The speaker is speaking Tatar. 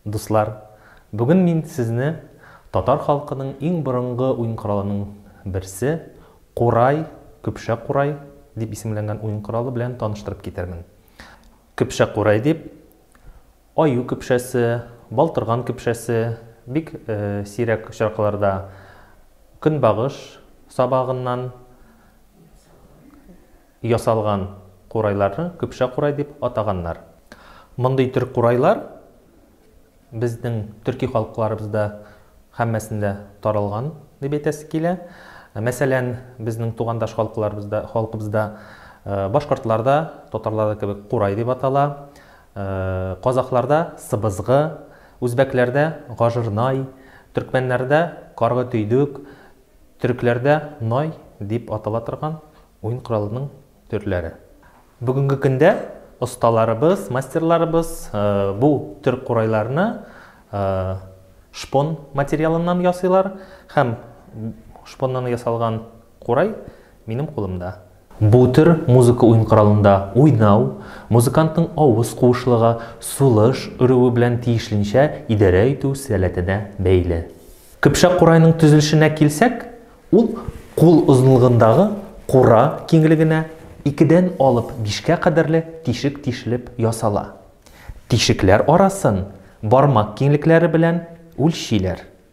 Дуслар, бүген мин сезне татар халкының иң борынгы уен коралының берсе, курай, көпшә курай дип исемләнгән уен коралы белән таныштырып китермен. Көпшә курай дип аю көпшәсе, балтырган көпшәсе, бик сирәк очракларда көнбагыш сабагыннан, Ясалган курайларны көпшә курай дип атаганнар. Мондый төр курайлар безнең төрки халыкларыбызда һәммәсендә таралган дип әйтәсе килә. Мәсәлән, безнең тугандаш халыкларыбызда, халкыбызда башкортларда, татарларда кебек курай дип атала, казакъларда сыбызгы, үзбәкләрдә гажырнай, төркмәннәрдә каргы төйдек, Төрекләрдә Най дип атала торган уен коралының төрләре. Бүгенге көндә осталарыбыз, мастерларыбыз бу төр курайларны шпон материалыннан ясыйлар һәм шпоннан ясалган курай минем кулымда. Бу төр музыка уен коралында уйнау, музыкантның авыз куышлыгы, сулыш өрүе белән тиешленчә идарә итү сәләтенә бәйле. Көпшәк курайның төзелешенә килсәк, ул кул озынлыгындагы кура киңлегенә икедән алып бишкә кадәрле тишек тишелеп ясала. Тишекләр арасын бармак киңлекләре белән үлчиләр.